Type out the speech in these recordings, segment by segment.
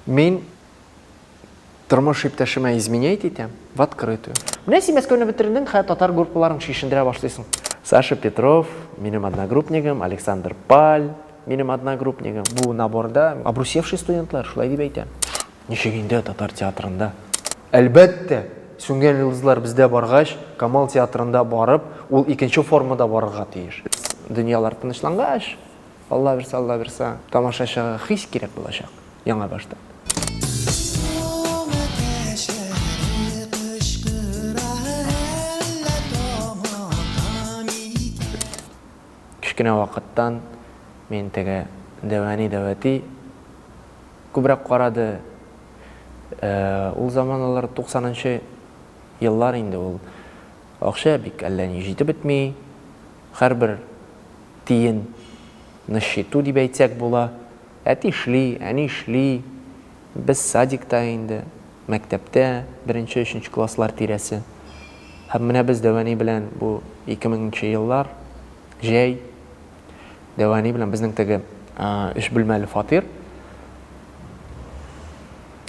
Мин тормыш иптәшемә изменять итәм в открытую. Менә син Мәскәүне бетердең, хә татар группаларын чишендерә башлыйсың. Саша Петров, минем одногруппнигым, Александр Паль, минем одногруппнигым. Бу наборда обрусевший студентлар, шулай дип әйтәм. Ничек инде татар театрында? Әлбәттә, Сүнгән йолдызлар бездә баргач, Камал театрында барып, ул икенче формада барырга тиеш. Дөньялар тынычлангач. Аллабирса Аллабирса тамашачыга хис кирәк булачак яңа баштан. Кечкенә вакыттан мин теге Дәвәни Дәвәти күбрәк карады. Ул заманалар 90 нчы еллар инде ул. Акча бик әллә ни җитеп бетми. Һәрбер. тиен на счету дип әйтсәк була. Әти эшли, әни эшли. Без садикта инде, мәктәптә, беренче, өченче класслар тирәсе. Һәм менә без Дәвани белән бу ике меңенче еллар, җәй. Дәвани белән безнең теге өч бүлмәле фатир.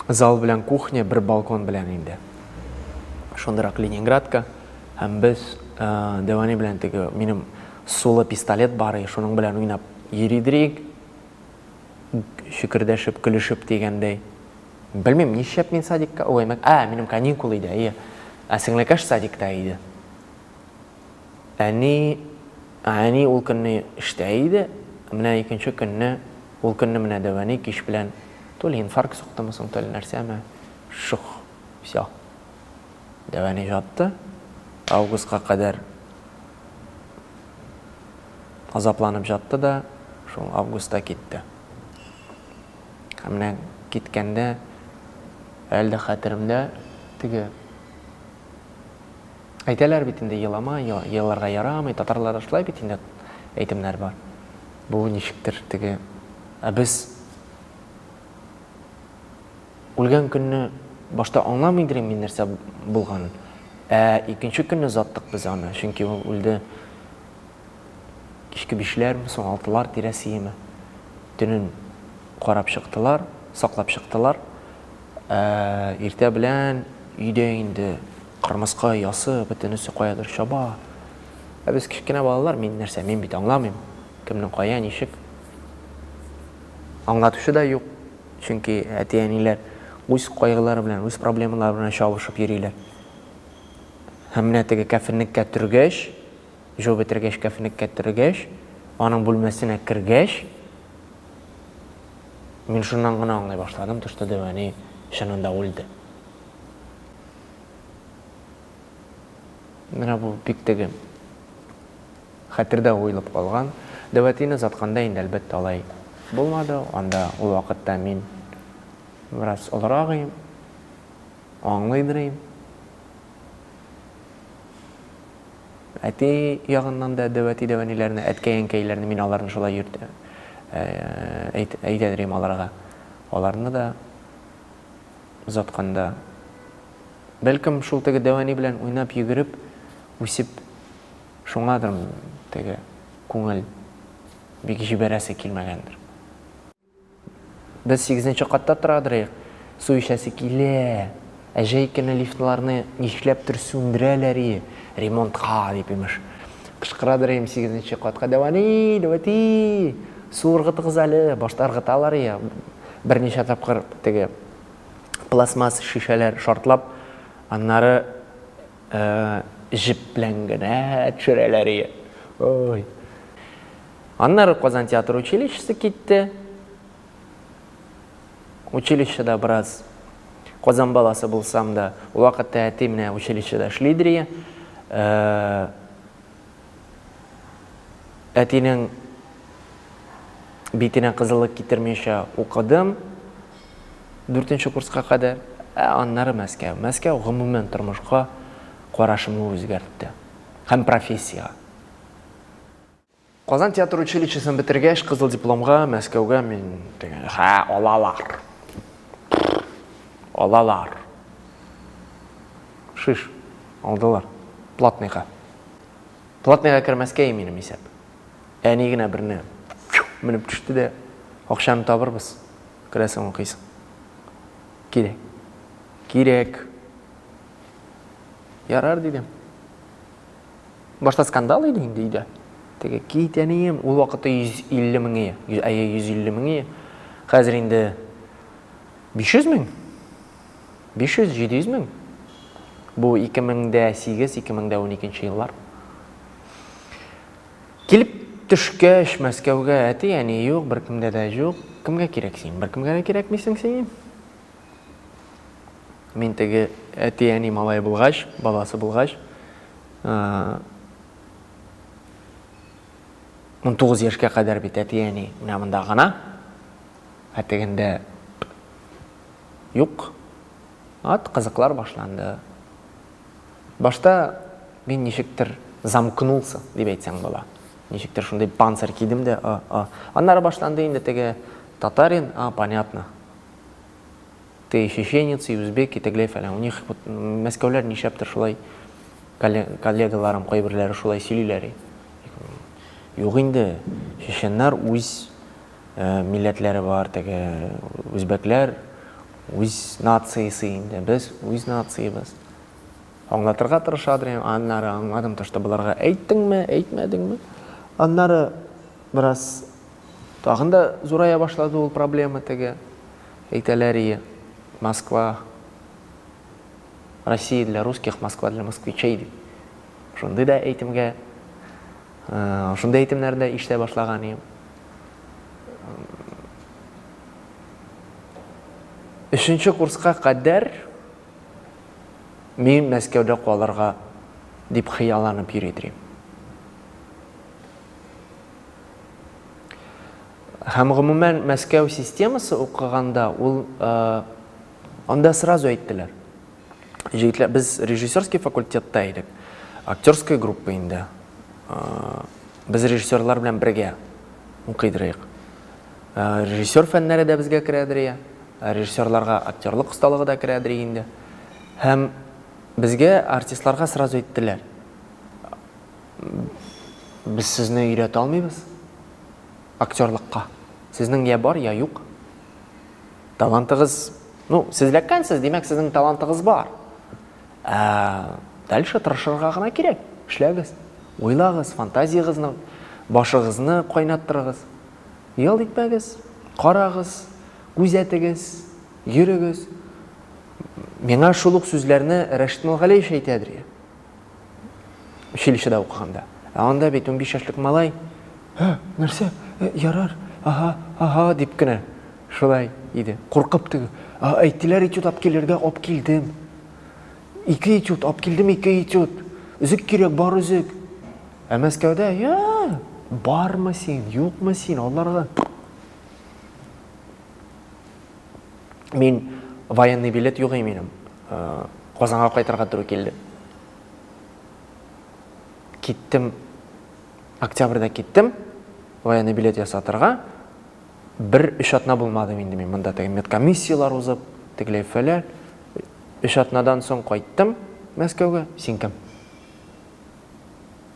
Зал белән кухня, бер балкон белән инде. Шундырак Ленинградка. Һәм без Дәвани белән теге минем Сулы пистолет бар и шуның белән уйнап йөридерик, чөкердәшеп, көлешеп дигәндәй. Белмим, нишләп мин садикка, ой, мәк, ә, минем каникул иде, әйе. Ә сеңлекәш садикта иде. Әни, әни ул көнне эштә иде, менә икенче көнне, ул көнне менә дәвәни кич белән, то ли инфаркт суктымы соң, то ли нәрсәме, шух, всё. Ягъни ятты. Августка кадәр азапланып ятты да, шул августта китте. Һәм менә киткәндә әле дә хәтеремдә теге Әйтәләр бит инде елама, еларга ярамый, татарларда шулай бит инде әйтемнәр бар. Бу ничектер теге ә без Үлгән көнне башта аңламый идерем мин нәрсә булганын. Ә икенче көнне заттык без аны, чөнки ул үлде кичке бишләрме соң, алтылар тирәсиеме. Төнен карап чыктылар, саклап чыктылар. Ә иртә белән өйдә инде кырмыска оясы, бөтенесе каядыр чаба. Ә без кечкенә балалар, мин нәрсә, мин бит аңламыйм, кемнең кая, ничек. Аңлатучы да юк, Чөнки әти-әниләр үз кайгылары белән, үз проблемалары белән чабышып йөриләр. Һәм менә теге кәфенлеккә төргәч, җу бетергәч, кәфенлеккә төргәч, аның бүлмәсенә кергәч, мин шуннан гына аңлый башладым, то что Дәвәни чынында үлде. Менә бу бик теге Хәтердә уелып калган, дәвәтине озатканда инде, әлбәттә, алай булмады, анда ул вакытта мин бераз олырак ием, аңлыйдыр ием. Әти ягыннан да дәвәти-дәвәниләрне, әткәй-әнкәйләрне, мин аларны шулай йөртәм, әйтәдер идем аларга, аларны да озатканда, бәлкем, шул теге дәвәни белән уйнап-йөгереп үсеп, Шуңадыр теге күңел бик җибәрәсе килмәгәндер. Без сигезенче катта тора дырыйк, су эчәсе килә. Ә җәй көне лифтларны нишләптер сүндерәләр и, ремонтка дип, имеш. Кычкыра дырыйм сигезенче катка, Дәвани, дәвати, су ыргытыгыз әле, башта ыргыталар и, берничә тапкыр теге пластмасс шешәләр шартлап, аннары, Җеп белән генә төшерәләр ие. Ой. Аннары Казан театр училищесы китте. Училищеда бераз Казан баласы булсам да, ул вакытта әти менә училищеда эшлидер ие. Әтинең битенә кызыллык китермичә укыдым дүртенче курска кадәр, ә аннары Мәскәү. Мәскәү гомумән тормышка карашымны үзгәртте һәм профессиягә. Казан театр училищесын бетергәч, кызыл дипломга Мәскәүгә мин дигәндә, Хә, алалар. Алалар. Шиш. Алдылар. Платныйга. Платныйга кермәскә иминем исәп. Әни генә берне менеп төште дә, акчаны табырбыз. Керәсең укыйсың. Кирәк. Кирәк. Ярар дидем. Башта скандал иде инде өйдә. Теге кит әнием, ул вакытта 150 мең ие. Әйе, 150 мең ие. Хәзер инде 500 мең. 500-700 мең. Бу 2008-2012 еллар. Килеп төшкәч Мәскәүгә әти-әни юк, беркемдә дә юк. Кемгә кирәк син? Беркемгә дә кирәкмисең син. Мин теге әти-әни малай булгач, баласы булгач, 19 яшькә кадәр бит әти-әни менә монда гына. Ә тегендә Юк. Ат кызыклар башланды. Башта мин ничектер замкнулся, дип әйтсәң була. Ничектер шундый панцирь кидем дә, а, а. Аннары башланды инде теге татарин, а, понятно. Ты и чеченец, и узбек, и тегеләй фәлән. У них вот мәскәүләр нишләптер шулай коллегаларым кайберләре шулай сөйлиләр. Юк инде, чеченнар үз милләтләре бар теге үзбәкләр үз нациясе инде без үз нациябез аңлатырга тырышадыр инде аннары аңладым то что боларга әйттеңме әйтмәдеңме аннары бераз тагын да зурая башлады ул проблема теге әйтәләр ие москва россия для русских москва для москвичей дип шундый да әйтемгә Шундый әйтемнәр дә ишетә башлаган идем. Өченче курска кадәр мин Мәскәүдә калырга дип хыялланып йөри идем. Һәм гомумән Мәскәү системасы укыганда ул анда сразу әйттеләр. җегетләр без режиссерский факультетта идек. Актерская группа инде. Без режиссерлар белән бергә укыйдырыйк. Режиссер фәннәре дә безгә керәдер. Режиссерларга актерлык осталыгы да керәдер инде. Һәм безгә артистларга сразу әйттеләр. Без сезне өйрәтә алмыйбыз актерлыкка. Сезнең я бар, я юк. Талантыгыз Ну, сез ләккәнсез, димәк, сезнең талантыгыз бар. Ә дальше тырышырга гына кирәк. Эшләгез, уйлагыз, фантазиягезне, башыгызны кайнаттырыгыз. Ял итмәгез, карагыз, күзәтегез, йөрегез. Миңа шул ук сүзләрне Рәшит Нургалиев әйтә, училищеда укыганда. Ә анда бит 15 яшьлек малай, "Һә, нәрсә? Э, ярар. Ага, ага" дип кенә шулай иде. Куркып теге, "А, әйттеләр этюд алып килергә, алып килдем. Ике этюд алып килдем, ике этюд. Өзек кирәк, бар өзек". Ә Мәскәүдә, "Я, бармы син, юкмы син, аларга?" Мин военный билет юк и минем. Казанга кайтырга туры килде. Киттем, октябрьдә киттем, военный билет ясатырга. Бер өч атна булмадым инде мин монда теге медкомиссиялар узып, тегеләй фәлән. Өч атнадан соң кайттым Мәскәүгә. Син кем?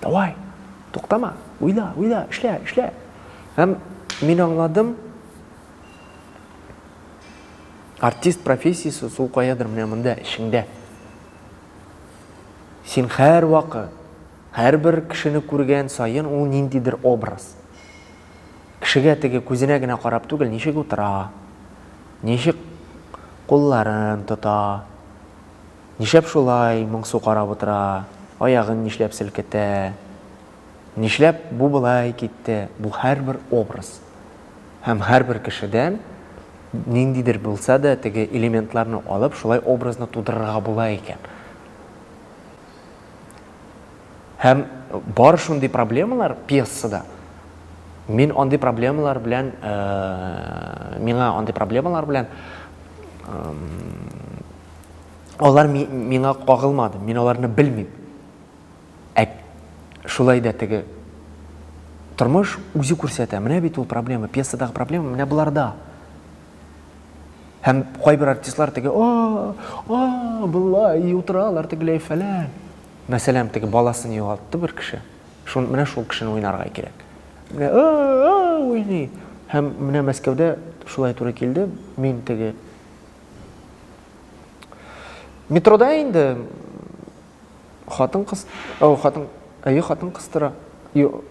Давай, туктама, уйла, уйла, эшлә, эшлә. Һәм мин аңладым, артист профессиясе сул каядыр менә монда эчеңдә. Син һәр вакыт, һәрбер кешене күргән саен ул ниндидер образ. Кешегә теге күзенә генә карап түгел, ничек утыра, ничек кулларын тота, Нишләп шулай моңсу карап утыра, аягын нишләп селкетә, нишләп бу болай китте, бу һәрбер образ. Һәм һәрбер кешедән ниндидер булса да теге элементларны алып, шулай образны тудырырга була икән. Һәм бар шундый проблемалар пьесада. Мин андый проблемалар белән, миңа андый проблемалар белән алар миңа кагылмады, мин аларны белмим. Ә шулай да теге тормыш үзе күрсәтә. Менә бит ул проблема, пьесадагы проблема менә боларда. Һәм кайбер артистлар теге, а, а, былай и утыралар тегеләй фәлән. Мәсәлән, теге баласын югалтты бер кеше. Шун менә шул кешене уйнарга кирәк. Менә а, а, уйный. Һәм менә Мәскәүдә шулай туры килде. Мин теге Метрода инде хатын кыз, ау хатын, әйе хатын кыстыра,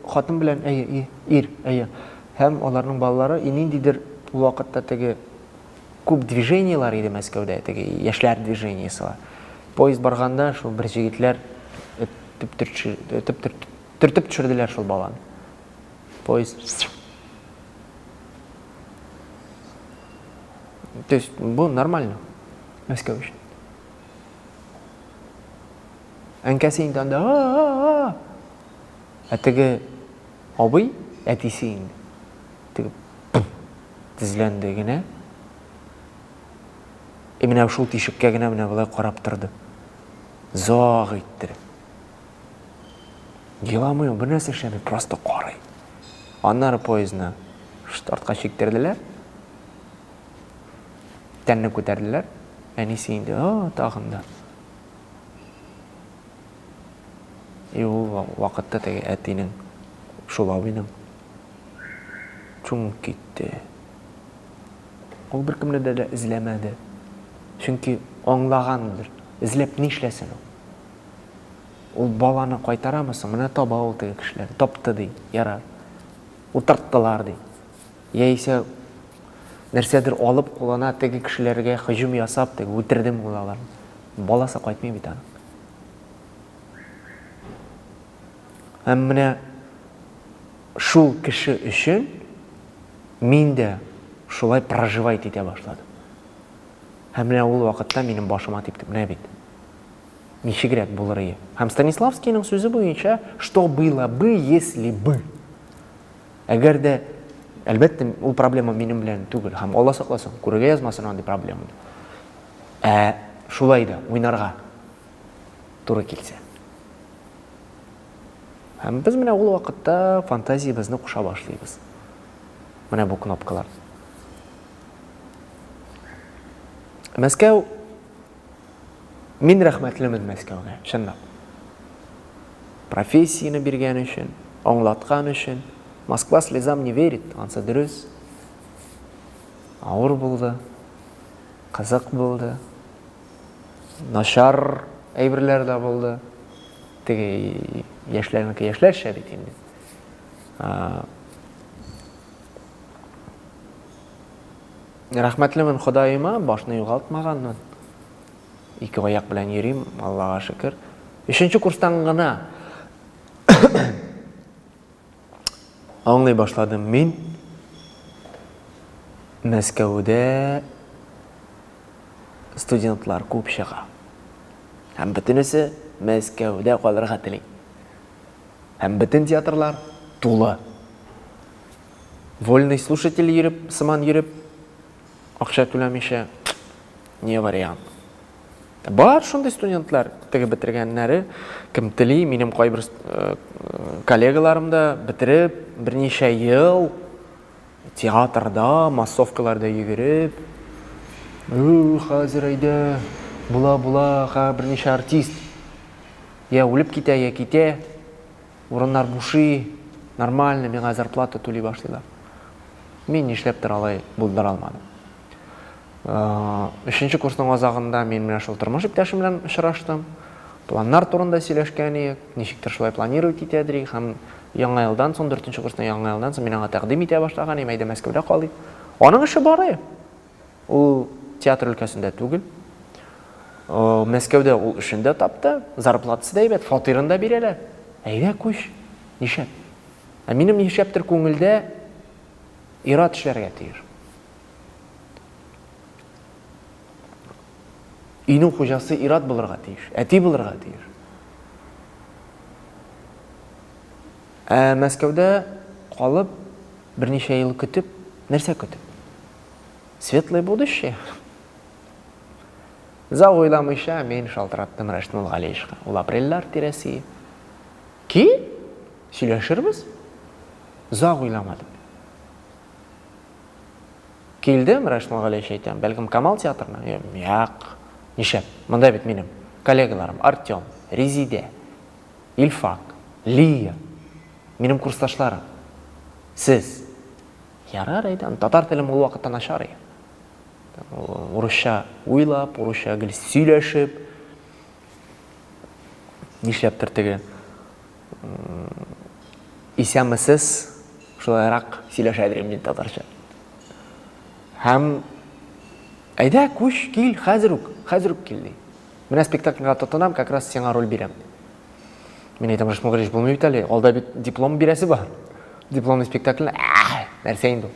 хатын белән әйе ир, әйе. Һәм аларның балалары и ниндидер ул вакытта теге күп движениелар иде Мәскәүдә, теге яшьләр движениесе. Поезд барганда шул бер җегетләр төртеп төшерделәр шул баланы. Поезд То есть бу нормально Мәскәү өчен. Әнкәсе инде анда Ә теге абый әтисе инде. Теге тезләнде генә. И менә шул тишеккә генә менә болай карап торды. Заг иттереп. Еламый ул, бернәрсә эшләми, просто карый. Аннары поездны шт артка чиктерделәр. Тәнне күтәрделәр. Әнисе инде, о, тагын да. И ул вакытта теге әтинең, шул абыйның чумып китте. Ул беркемне дә эзләмәде. Чөнки аңлагандыр. Эзләп нишләсен ул? Ул баланы кайтарамы соң? Менә таба ул теге кешеләр. Тапты, ди. Ярар. Утырттылар, ди. Яисә нәрсәдер алып кулына теге кешеләргә һөҗүм ясап, теге үтердем ул алар. Баласы кайтмый бит аның. Һәм менә шул кеше өчен мин дә шулай проживать итә башладым. Һәм менә ул вакытта минем башыма типте. Менә бит. Ничегрәк булырые? Һәм Станиславскийның сүзе буенча, что было бы, если бы. Әгәр дә, әлбәттә, ул проблема минем белән түгел, һәм Алла сакласын, күрергә язмасын андый проблеманы. Ә шулай да уйнарга туры килсә. Һәм без менә ул вакытта фантазиябезне куша башлыйбыз. Менә бу кнопкалар. Мәскәү Мин рәхмәтлемен Мәскәүгә, чынлап. Профессияне биргән өчен, аңлаткан өчен. Москва слезам не верит, ансы дөрес. Авыр булды, кызык булды, начар әйберләр дә булды. Теге яшьләрнеке яшьләрчә бит инде. Рәхмәтлемен Ходаема, башны югалтмаганмын. Ике аяк белән йөрим, Аллага шөкер. Өченче курстан гына аңлый башладым мин Мәскәүдә студентлар күп чыга. Һәм бөтенесе Мәскәүдә калырга тели. Һәм бөтен театрлар тулы. Вольный слушатель йөреп, сыман йөреп, акча түләмичә, не вариант. Бар шундый студентлар, теге бетергәннәре, кем тели, минем кайбер э, коллегаларым да бетереп, берничә ел театрда, массовкаларда йөгереп, Ү, хәзер әйдә, була-була, ха, берничә артист. Я үлеп китә, я китә. Урыннар бушый, нормальный миңа зарплата түли башлыйлар. Мин нишләптер алай булдыра алмадым. Өченче курсның азагында мин менә шул тормыш иптәшем белән очраштым. Планнар турында сөйләшкән идек, ничектер шулай планировать итә идек һәм яңа елдан соң, дүртенче курсның яңа елдан соң мин аңа тәкъдим итә башлаган идем, әйдә Мәскәүдә калыйк. Аның эше бар иде. Ул театр өлкәсендә түгел. Мәскәүдә ул эшен дә тапты, зарплатасы да әйбәт, фатирын да бирәләр. Әйдә күч, нишләп? Ә минем нишләптер күңелдә ират эшләргә тиеш. Өйнең хуҗасы ират булырга тиеш, әти булырга тиеш. Ә Мәскәүдә калып, берничә ел көтеп, нәрсә көтеп? Светлое будущее? Зал уйламыйча мин шалтыраттым Рәшнул Галиевичка. Ул апрельләр тирәсе. Ки, сөйләшербез. Зал уйламадым. Килдем, Рәшнул Галиевич әйтәм, бәлкем Камал театрына? Як, нишәп, монда бит минем коллегаларым Артем, Резидә, Ильфак, Лия, минем курсташларым, сез – Ярар, әйдәм. Татар телем ул вакытта начар и. Урысча уйлап, урысча гел сөйләшеп, нишләптер теге исәмесез шулайрак сөйләшә дирем мин татарча. Һәм әйдә, күч, кил, хәзер үк, хәзер үк кил ди. Менә спектакльга тотынам, как раз сиңа роль бирәм. Мин әйтәм, Рыш Мөгәрич булмый бит әле, алда бит диплом бирәсе бар. Дипломный спектакль, нәрсә инде ул?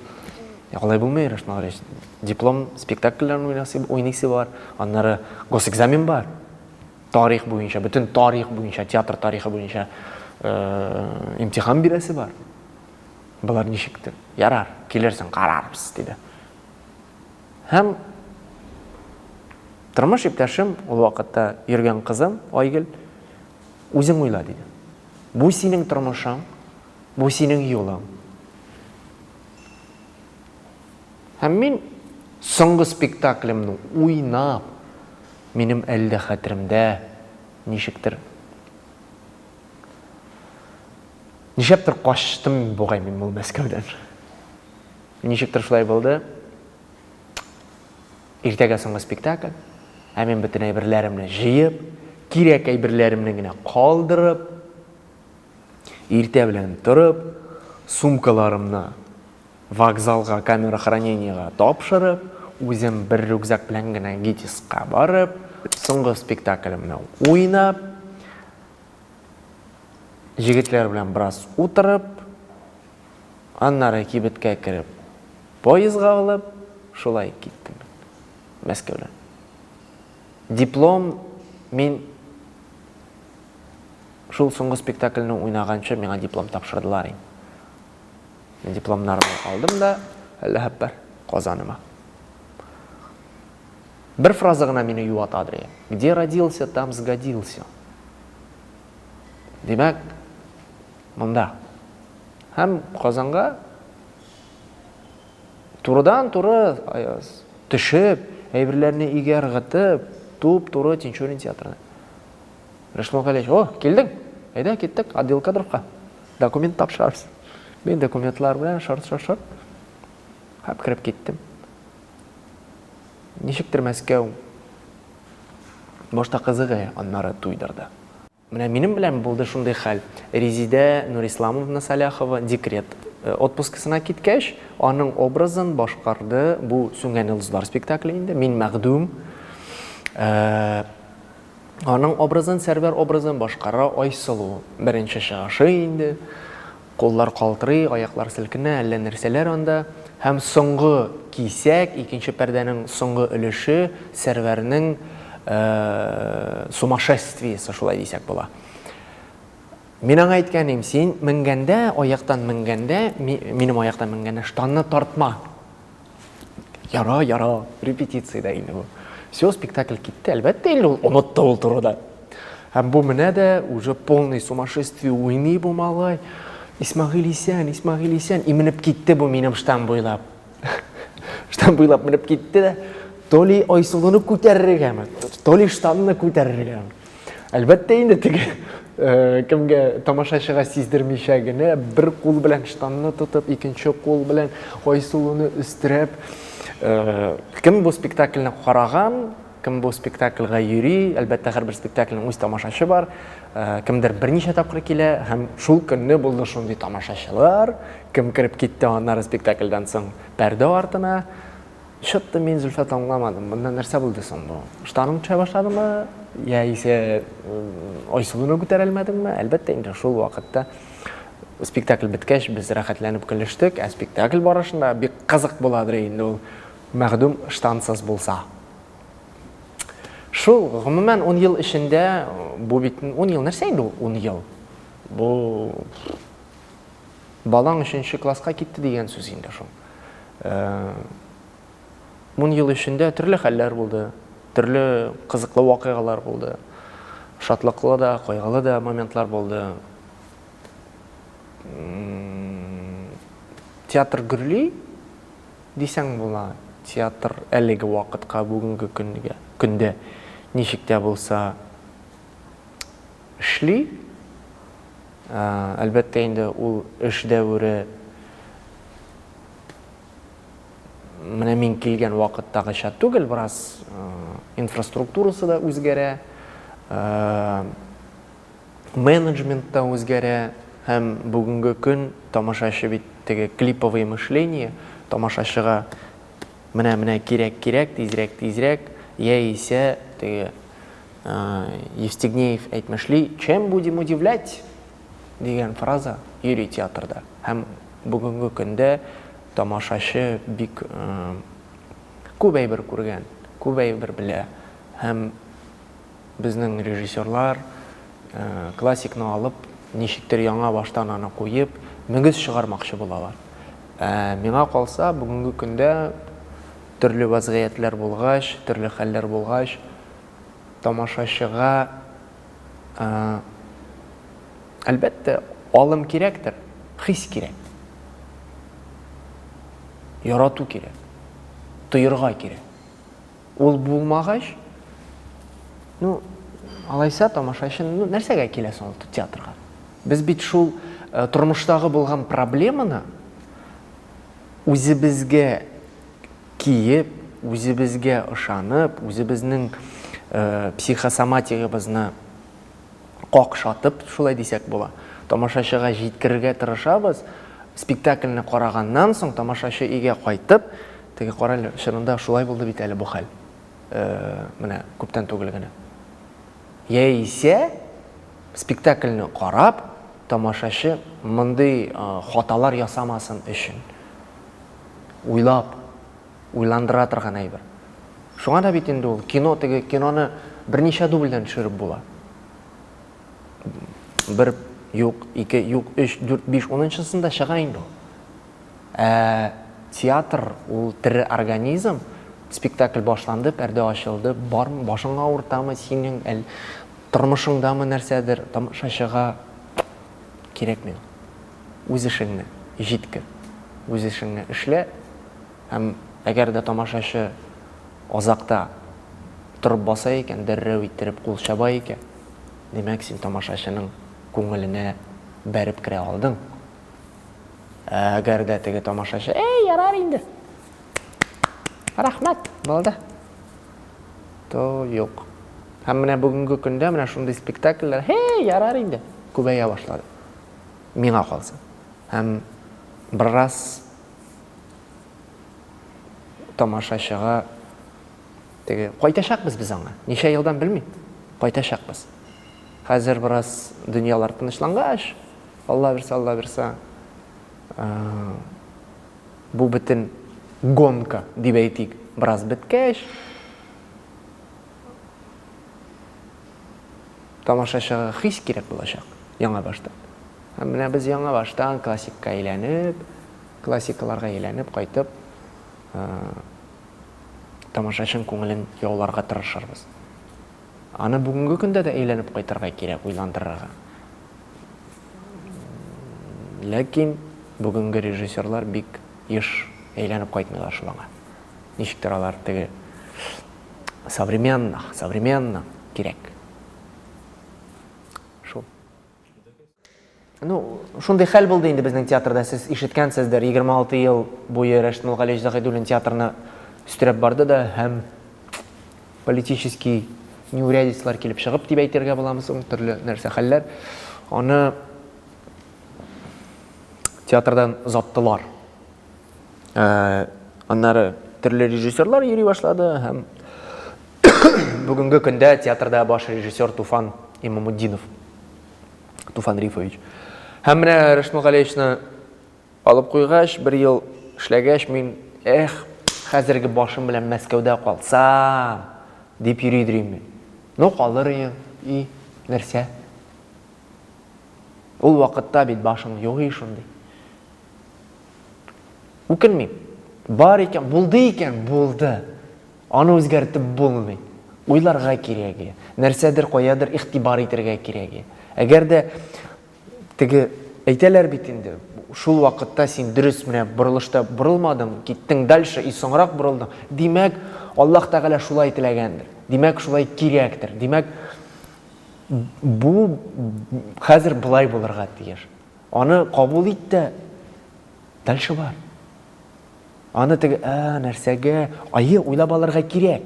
Ә алай булмый, Рыш Мөгәрич. Диплом спектакльләрен уйнасы, уйныйсы бар, аннары госэкзамен бар. Тарих буенча, бөтен тарих буенча, театр тарихы буенча э, имтихан бирәсе бар. Болар ничектер? Ярар, килерсең, карарбыз, диде. Һәм тормыш иптәшем, ул вакытта йөргән кызым Айгөл, үзең уйла, диде. Бу синең тормышың, бу синең юлың. Һәм мин соңгы спектаклемне уйнап, минем әле дә хәтеремдә, ничектер, ничәптер качтым бугай мин бу Мәскәүдән. Ничектер шулай булды. Иртәгә соңгы спектакль. Ә мин бөтен әйберләремне җыеп, кирәк әйберләремне генә калдырып, иртә белән торып, сумкаларымны вокзалга, камера хранениега тапшырып, үзем бер рюкзак белән генә ГИТИСка барып, соңгы спектаклемне уйнап, җегетләр белән бераз утырып, Аннары кибеткә кереп, поездга алып, шулай киттем мин Мәскәүдән. Диплом мин Шул соңгы спектакльне уйнаганчы миңа диплом тапшырдылар инде. Мин дипломнарны алдым да, әллә хәппәр Казаныма. Бер фраза гына мине юата, Андрей. Где родился, там сгодился. Димәк, Монда. Һәм Казанга турыдан-туры төшеп, әйберләрне өйгә ыргытып, туп-туры Тинчурин театрына. Рәшмә Галиевич, о, килдең? Әйдә, киттек, отдел кадровка. Документ тапшырабыз. Мин документлар белән шарт-шарт-шарт һәм кереп киттем. Ничектер Мәскәү башта кызыгы, аннары туйдырды. Менә минем белән булды шундый хәл. Резидә Нурисламовна Саляхова декрет отпускысына киткәч, аның образын башкарды бу Сүнгән йолдызлар спектакле инде, мин мәхдүм. Аның образын, Сәрвәр образын башкара Айсылу. Беренче чыгышы инде. Куллар калтырый, аяклар селкенә, әллә нәрсәләр анда. Һәм соңгы кисәк, икенче пәрдәнең соңгы өлеше, Сәрвәрнең сумашествиесе, шулай дисәк була. Мин аңа әйткәнем, син менгәндә, аяктан менгәндә, минем аяктан менгәндә, штанны тартма. Яра, яра, репетициядә инде бу. Все, спектакль китте, әлбәттә инде ул онытты ул турыда. Һәм бу менә дә уже полный сумасшествие уйный бу малай. Исмагыйль исән, Исмагыйль исән, и менеп китте бу минем штам буйлап. штам буйлап менеп китте дә, то ли Айсылуны күтәрергәме, то ли штамны күтәрергәме. Әлбәттә инде теге э, кемгә тамашачыга сиздермичә генә бер кул белән штанны тотып, икенче кул белән Айсылуны өстерәп, э, кем бу спектакльне караган, кем бу спектакльга йөри, әлбәттә һәрбер спектакльнең үз тамашачы бар, э, кемдер берничә тапкыр килә һәм шул көнне булды шундый тамашачылар, кем кереп китте аннары спектакльдан соң пәрдә артына, Чытты мин Зөлфәт аңламадым, монда нәрсә булды соң бу? Штаның төшә башладымы? Я исә Айсылуны күтәрәлмәдеңме? Әлбәттә инде шул вакытта спектакль беткәч без рәхәтләнеп көлештек, ә спектакль барышында бик кызык буладыр инде ул мәгъдүм штансыз булса. Шул, гомумән, 10 ел эчендә бу бит 10 ел нәрсә инде ул 10 ел? Бу Балаң өченче класска китте дигән сүз инде шул. Ун ел эчендә төрле хәлләр булды, төрле кызыклы вакыйгалар булды. Шатлыклы да, кайгылы да моментлар булды. Театр гөрли дисәң була. Театр әлеге вакытка, бүгенге көнгә, көндә ничек тә булса эшли. Әлбәттә инде, ул эш дәвере менә мин килгән вакыттагыча түгел, бераз инфраструктурасы да үзгәрә, менеджмент та үзгәрә һәм бүгенге көн тамашачы бит теге клиповое мышление, тамашачыга Менә, менә кирәк, кирәк, тизрәк, тизрәк, яисә теге Евстигнеев әйтмешли, чем будем удивлять дигән фраза йөри театрда. Һәм бүгенге көндә тамашачы бик күп әйбер күргән, күп әйбер белә һәм Безнең режиссерлар, классикны алып, ничектер яңа баштан аны куеп, мөгез чыгармакчы булалар. Ә миңа калса, бүгенге көндә төрле вазгыятьләр булгач, төрле хәлләр булгач, тамашачыга, әлбәттә, алым кирәктер, хис кирәк. Ярату кирәк. Тоерга кирәк. Ул булмагач, ну, алайса тамашачы ну, нәрсәгә килә соң ул театрга? Без бит шул э, тормыштагы булган проблеманы үзебезгә киеп, үзебезгә ышанып, үзебезнең э, психосоматигыбызны какшатып, шулай дисәк була, тамашачыга җиткерергә тырышабыз. Спектакльне караганнан соң, тамашачы өйгә кайтып, теге, карале, чынында шулай булды бит әле бу хәл, менә күптән түгел генә. Яисә спектакльне карап, тамашачы мондый хаталар ясамасын өчен уйлап, уйландыра торган әйбер. Шуңа да бит инде ул кино, теге киноны берничә дубльдән төшереп була. Бер юк, ике юк, өч, дүрт, биш, унынчысында чыга инде ул. Ә театр ул тере организм, спектакль башланды, пәрдә ачылды, бармы, башыңа авыртамы синең, әл тормышыңдамы нәрсәдер, тамашачыга кирәкми. Үз эшеңне җиткер, үз эшеңне эшлә, һәм әгәр дә тамашачы азакта торып баса икән, дәррәү иттереп кул чаба икән, димәк, син тамашачының күңеленә бәреп керә алдың. Ә әгәр дә теге тамашачы, әй, ярар инде, рәхмәт, булды, то юк. Һәм менә бүгенге көндә менә шундый спектакльләр, әй, ярар инде, күбәя башлады. Миңа калса. Һәм берраз тамашачыга теге кайтачакбыз без аңа. Ничә елдан белмим. Кайтачакбыз. Хәзер бераз дөньялар тынычлангач, Алла бирсә, Алла бирсә, бу бөтен гонка дип әйтик, бераз беткәч, Тамашачыга хис кирәк булачак, яңа баштан. Һәм менә без яңа баштан классикка әйләнеп, классикаларга әйләнеп кайтып, тамашачың күңелен яуларга тырышырбыз. Аны бүгенге көндә дә әйләнеп кайтырга кирәк, уйландырырга. Ләкин бүгенге режиссерлар бик еш әйләнеп кайтмыйлар шул аңа. Ничектер алар теге современно, современно кирәк. Шул. Ну, шундый хәл булды инде безнең театрда, сез ишеткәнсездер, 26 ел буе Рәшит Мулгалевич Загыйдуллин театрны өстерәп барды да һәм политический неурядицлар килеп чыгып дип әйтергә буламы соң, төрле нәрсә хәлләр. Аны театрдан заттылар. Аннары төрле режиссерлар йөри башлады һәм бүгенге көндә театрда баш режиссер Туфан Имамуддинов. Туфан Рифович. Һәм менә Рәшмә Галиевичны алып куйгач, бер ел эшләгәч, мин, эх, хәзерге башым белән Мәскәүдә калсам, дип йөри идем мин. Ну, калыр идем, и, нәрсә? Ул вакытта бит башың юк и шундый. Үкенмим. Бар икән, булды икән, булды. Аны үзгәртеп булмый. Уйларга кирәге, нәрсәдер каядыр игътибар итәргә кирәге. Әгәр дә теге әйтәләр бит инде, шул вакытта син дөрес менә борылышта борылмадың, киттең дальше и соңрак борылдың. Димәк, Аллаһ Тәгалә шулай теләгәндер. Димәк, шулай кирәктер. Димәк, бу хәзер былай булырга тиеш. Аны кабул ит тә, дальше бар. Аны теге, ә, нәрсәгә, айы уйлап алырга кирәк.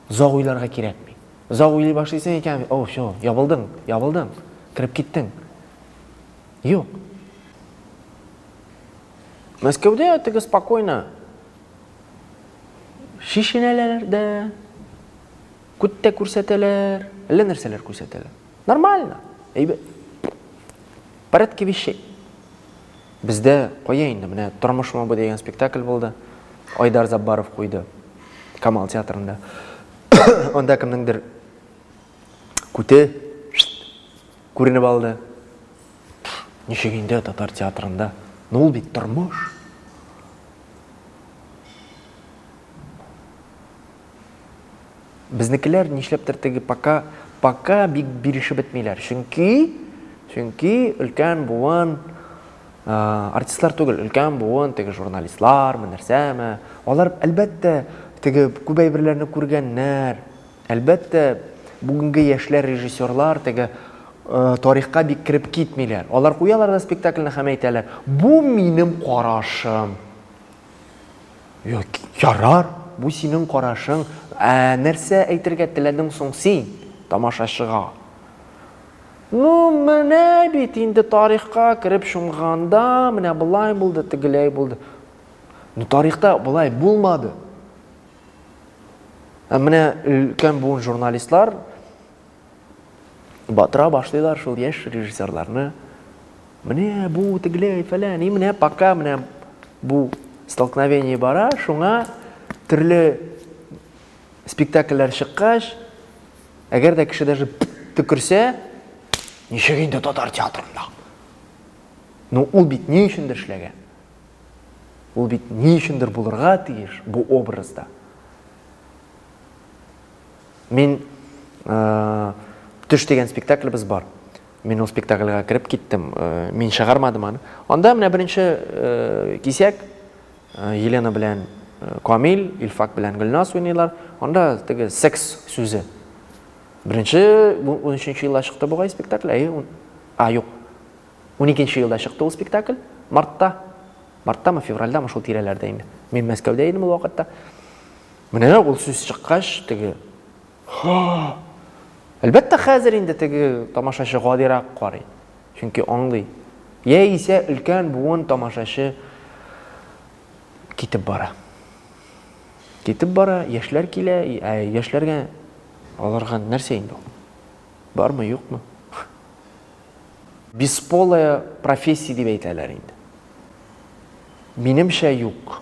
Заг уйларга кирәкми. Заг уйлый башлыйсың икән, о, все, ябылдың, ябылдың, кереп киттең. Юк. Мәскәүдә теге спокойно шешенәләр дә, күт тә күрсәтәләр, әллә нәрсәләр күрсәтәләр. Нормально. Әйбәт. Порядке вещей. Бездә кая инде, менә Тормыш мобы дигән спектакль булды. Айдар Заббаров куйды. Камал театрында. Анда кемнеңдер күте күренеп алды. Ничек инде татар театрында? Ну ул бит тормыш. Безнекеләр нишләптер теге пока пока бик бирешеп бетмиләр. Чөнки чөнки өлкән буын артистлар түгел, өлкән буын теге журналистлар, нәрсәме. Алар әлбәттә теге күп әйберләрне күргәннәр. Әлбәттә бүгенге яшьләр режиссерлар теге тарихка бик кереп китмиләр. Алар куялар да спектакльне һәм әйтәләр, бу минем карашым. Ярар, бу синең карашың. Ә нәрсә әйтергә теләдең соң син тамашачыга? Ну, менә бит инде тарихка кереп чумганда, менә болай булды, тегеләй булды. Ну, тарихта болай булмады. Ә менә өлкән буын журналистлар Батыра башлыйлар шул яшь режиссерларны. Менә бу, тегеләй, фәлән, и менә пока менә бу столкновение бара, шуңа төрле спектакльләр чыккач, әгәр дә кеше даже төкерсә, ничек инде татар театрында? Ну, ул бит ни өчендер эшләгән? Ул бит ни өчендер булырга тиеш бу образда? Мин төш дигән спектаклебез бар. Мин ул спектакльгә кереп киттем. Мин чыгармадым аны. Анда менә беренче кисәк Елена белән Камил, Илфак белән Гөлназ уйныйлар. Анда теге секс сүзе. Беренче 13 елда чыкты бугай спектакль. Әйе, а юк. 12 елда чыкты ул спектакль. Мартта. Марттамы, февральдамы шул тирәләрдә инде. Мин Мәскәүдә идем ул вакытта. Менә ул сүз чыккач, теге ха! Әлбәттә, хәзер инде теге тамашачы гадирак карый. Чөнки аңлый. Яисә өлкән буын тамашачы китеп бара. Китеп бара, яшьләр килә, ә яшьләргә аларга нәрсә инде ул? Бармы, юкмы? Бесполая профессия дип әйтәләр инде. Минемчә, юк.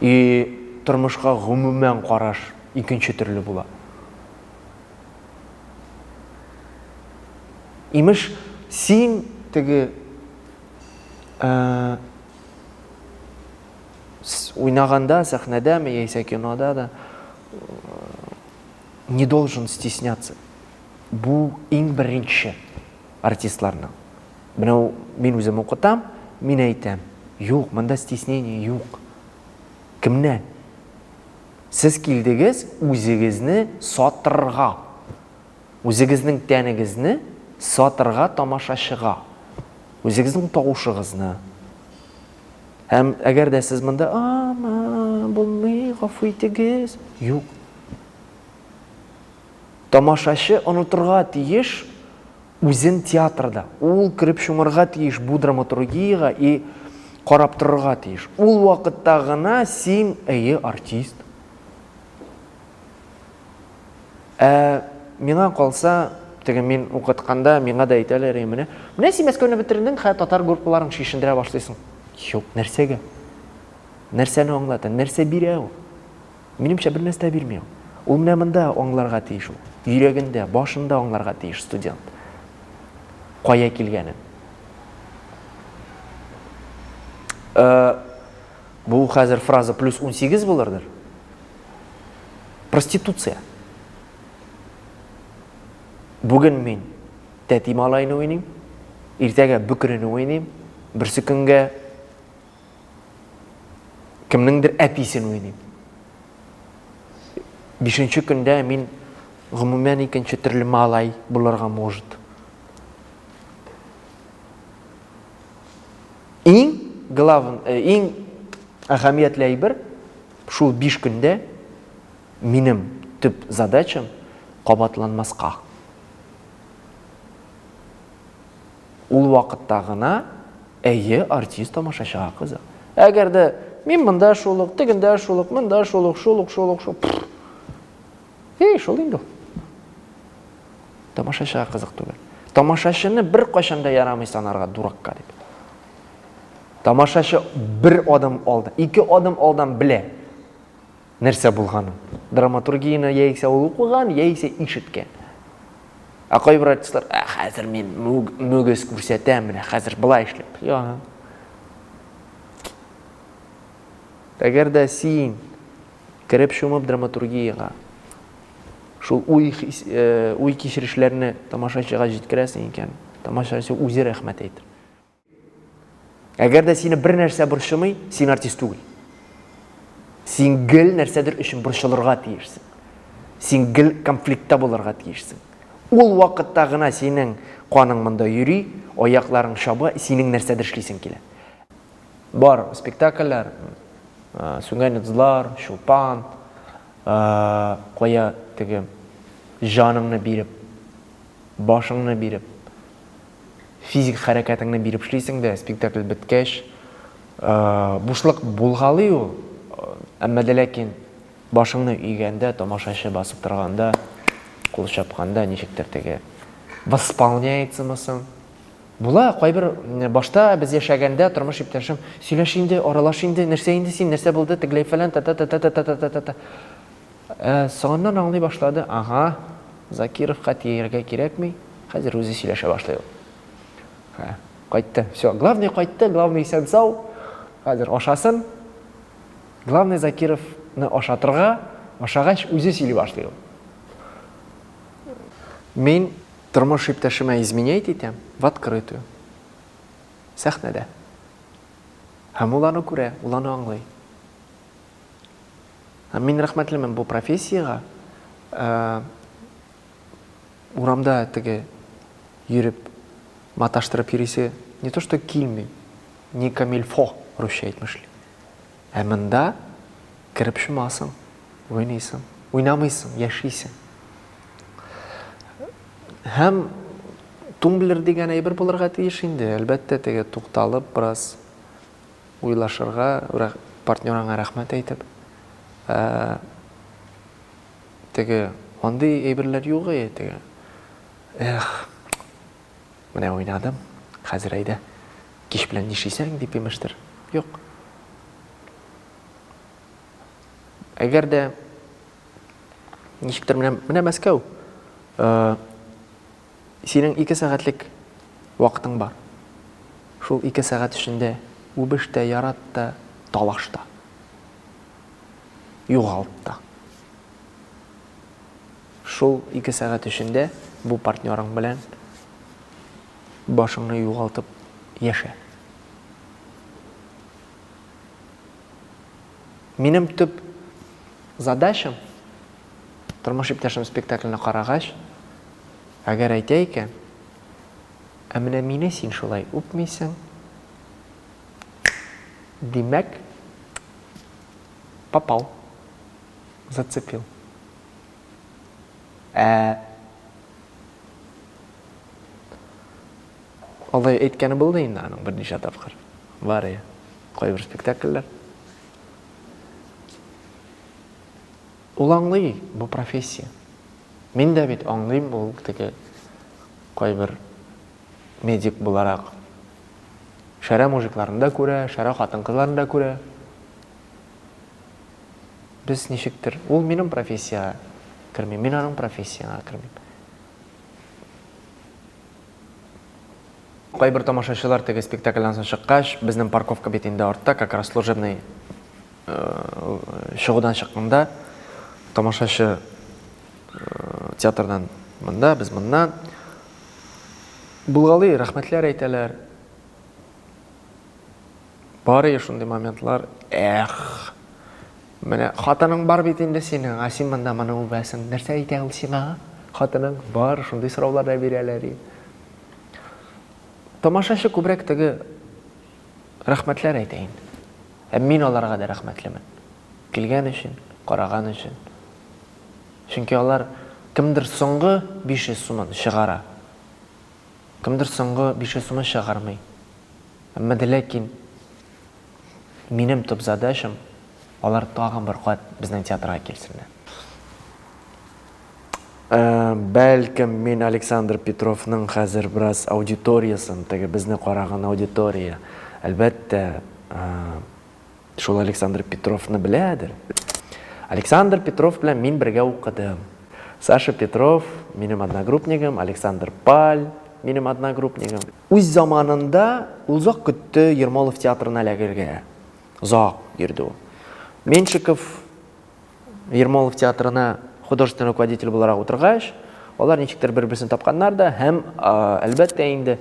И тормышка гомумән караш икенче төрле була. Имеш, син теге уйнаганда, сәхнәдәме яисә кинода да не должен стесняться. Бу иң беренче. артистларның. Менә мин үзем укытам, мин әйтәм, юк, монда стеснение юк. Кемнән? Сез килдегез үзегезне сатырга. Үзегезнең тәнегезне сатырга тамашачыга. Үзегезнең тавышыгызны. Һәм әгәр дә сез монда, "Ама, булмый, гафу итегез", юк. Тамашачы онытырга тиеш үзен театрда, ул кереп чумырга тиеш бу драматургиягә и карап торырга тиеш. Ул вакытта гына син, әйе, артист. Ә миңа калса, теге мин укытканда миңа да әйтәләр иде менә, менә син Мәскәүне бетердең, хә татар группаларын шешендерә башлыйсың. Юк, нәрсәгә? Нәрсәне аңлата, нәрсә бирә ул? Минемчә, бернәрсә дә бирми ул. Ул менә монда аңларга тиеш ул. Йөрәгендә, башында аңларга тиеш студент. Кая килгәнен. Э, бу хәзер фраза плюс 18 булырдыр. Проституция. Бүген мин тәти малайны уйныйм, иртәгә бөкрене уйныйм, берсе көнгә кемнеңдер әтисен уйныйм. Бишенче көндә мин гомумән икенче төрле малай булырга может. Иң главен, э, иң әһәмиятле әйбер шул биш көндә минем төп задачам кабатланмаска. Ул вакытта гына, әйе, артист тамашачыга кызык. Әгәр дә мин монда шул ук, тегендә шул ук, монда шул ук, шул ук, шул ук, шул ук. Эй, шул инде ул. Тамашачыга кызык түгел. Тамашачыны бер кайчан да ярамый санарга дуракка дип. Тамашачы бер адым алда, ике адым алдан белә. Нәрсә булганын. Драматургияне яисә ул укыган, яисә ишеткән. Ә кайбер артистлар, ә хәзер мин мөгез күрсәтәм, менә хәзер былай эшләп. Яһа. Әгәр дә син кереп шумып драматургиягә, шул уй, э, уй кичерешләрне тамашачыга җиткерәсең икән, тамашачы үзе рәхмәт әйтер. Әгәр дә сине бер нәрсә борчымый, син артист түгел. Син гел нәрсәдер өчен борчылырга тиешсең. Син гел конфликтта булырга тиешсең. Ул вакытта гына синең каның монда йөри, аякларың чаба, синең нәрсәдер эшлисең килә. Бар спектакльләр, сүнгән йолдызлар, чулпан, кая теге җаныңны биреп, башыңны биреп, физик хәрәкәтеңне биреп эшлисең дә, спектакль беткәч, бушлык булгалый ул, әмма дә ләкин башыңны өйгәндә, тамашачы басып торганда, кул чапканда ничектер теге восполняется-мы соң? Була, кайбер башта без яшәгәндә тормыш иптәшем, сөйләш инде, аралаш инде, нәрсә инде син, нәрсә булды, тегеләй фәлән, та-та-та-та-та-та-та-та-та. Ә, соңыннан аңлый башлады, ага, Закировка тияргә кирәкми, хәзер үзе сөйләшә башлый ул. Ха, кайтты, всё, главный кайтты, главный исән-сау, хәзер ашасын. Главный Закировны ашатырга, ашагач, үзе сөйли башлый ул. Мин тормыш иптәшемә изменять итәм, в открытую, сәхнәдә. Һәм ул аны күрә, ул аны аңлый. Мин рәхмәтлемен бу профессиягә. Урамда теге йөреп, маташтырып йөрисе не то что килми, не камильфо, русча әйтмешли. Ә монда кереп шумасың, уйныйсың, уйнамыйсың, яшисең. Һәм тумблер дигән әйбер булырга тиеш инде, әлбәттә, теге тукталып бераз уйлашырга, партнер аңа рәхмәт әйтеп, ә теге андый әйберләр юк әйе теге. Эх, менә уйнадым, хәзер әйдә, кич белән нишисәң дип имештер. Юк. Әгәр дә ничектер менә Мәскәү, Синең ике сәгатьлек вакытың бар. Шул ике сәгать эчендә үбеш тә, ярат та, талаш та. Югалт та. Шул ике сәгать эчендә бу партнерың белән башыңны югалтып яшә. Минем төп задачам, тормыш иптәшем спектакльне карагач, әгәр әйтә икән, Ә менә мине син шулай үпмисең. Димәк, попал. Зацепил. Ә Алай әйткәне булды инде аның берничә тапкыр. Бар Кайбер спектакльләр. Ул аңлый, бу профессия. Мин дә бит аңлыйм, ул теге кайбер медик буларак. Шәрә мужикларын да күрә, шәрә хатын-кызларын да күрә. Без ничектер, ул минем профессиягә керми, мин аның профессияңа кермим. Кайбер тамашачылар теге спектакльдән соң чыккач, безнең парковка бит инде артта, как раз служебный чыгудан чыкканда, тамашачы театрдан монда, без моннан. Булгалый, рәхмәтләр әйтәләр. Бар иде шундый моментлар. Эх! Менә хатының бар бит инде синең, ә син монда моны үбәсең. Нәрсә әйтә ул сиңа? Хатының бар, шундый сораулар да бирәләр и. Тамашачы күбрәк теге рәхмәтләр әйтә инде. Һәм мин аларга да рәхмәтлемен. Килгән өчен, караган өчен. Чөнки алар кемдер соңгы 500 сумын чыгара. Кемдер соңгы 500 сумын чыгармый. Әмма дә ләкин Минем төп задачам, алар тагын бер кат безнең театрга килсеннәр. Бәлкем, мин Александр Петровның хәзер бераз аудиториясен, теге безне караган аудитория, әлбәттә, шул Александр Петровны беләдер. Александр Петров белән мин бергә укыдым. Саша Петров, минем одногруппнигым, Александр Паль, минем одногруппнигым. Үз заманында ул озак көтте Ермолов театрына эләгергә. Озак йөрде ул. Меньшиков Ермолов театрына художественный руководитель буларак утыргач, алар ничектер бер-берсен тапканнар да һәм, әлбәттә инде,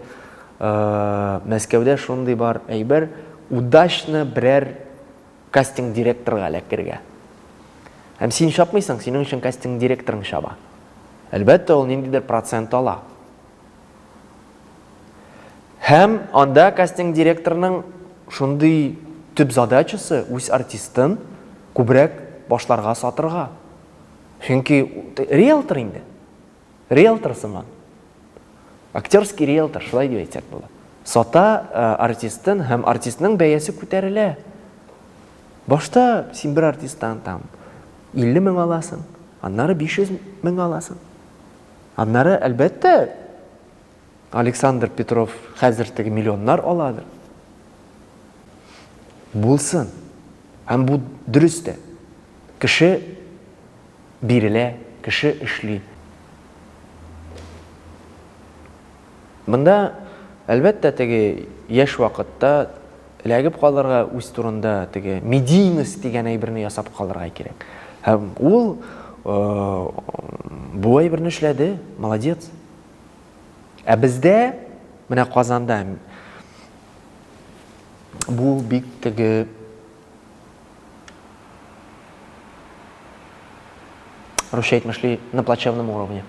Мәскәүдә шундый бар әйбер, удачно берәр кастинг директорга эләкергә. Һәм син чапмыйсың, синең өчен кастинг директорың чаба. Әлбәттә, ул ниндидер процент ала. Һәм анда кастинг директорының шундый төп задачасы үз артистын күбрәк башларга сатырга. Чөнки риэлтор инде. Риэлтор сыман. Актерский риэлтор, шулай дип әйтсәк була. Сата э, артистын һәм артистның бәясе күтәрелә. Башта син бер артисттан там 50 мең аласың, аннары 500 мең аласың. Аннары, әлбәттә, Александр Петров хәзер теге миллионнар аладыр. Булсын. Һәм бу дөрес тә. Кеше бирелә, кеше эшли. Монда, әлбәттә, теге яшь вакытта эләгеп калырга, үз турында теге медийность дигән әйберне ясап калырга кирәк. Һәм ул бу әйберне эшләде, молодец. Ә бездә, менә Казанда бу бик теге Русча әйтмешли, на плачевном уровне.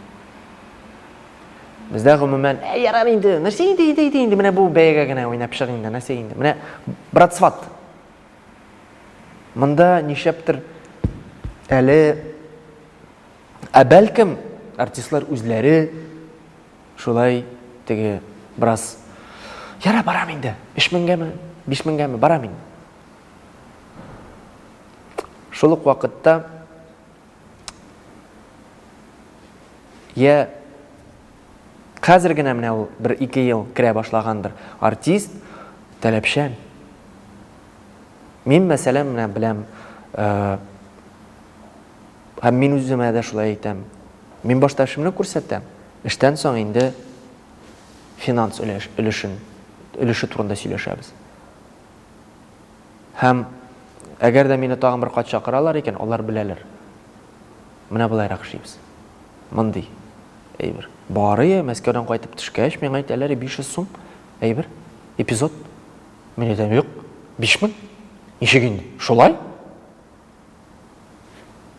Бездә гомумән, ә ярар инде, нәрсә инде, инде, инде, инде, менә бу бәягә генә уйнап чык инде, нәрсә инде. Менә брат сват. Монда нишләптер әле ә бәлкем артистлар үзләре шулай теге брас яра барам инде, 3000 меңгәме, 5000 меңгәме барам инде. Шул ук вакытта я хәзер генә менә ул бер ике ел керә башлагандыр артист таләпчән мин мәсәлән менә беләм э, һәм мин үземә дә шулай әйтәм мин башта эшемне күрсәтәм эштән соң инде финанс өлешен өлеше турында сөйләшәбез Һәм әгәр дә мине тагын бер кат чакыралар икән, алар беләләр. Менә болайрак эшлибез. Мондый әйбер. Бары Мәскәүдән кайтып төшкәч, миңа әйтәләр, 500 сум әйбер, эпизод. Мин әйтәм, юк, 5000. Ничек инде? Шулай?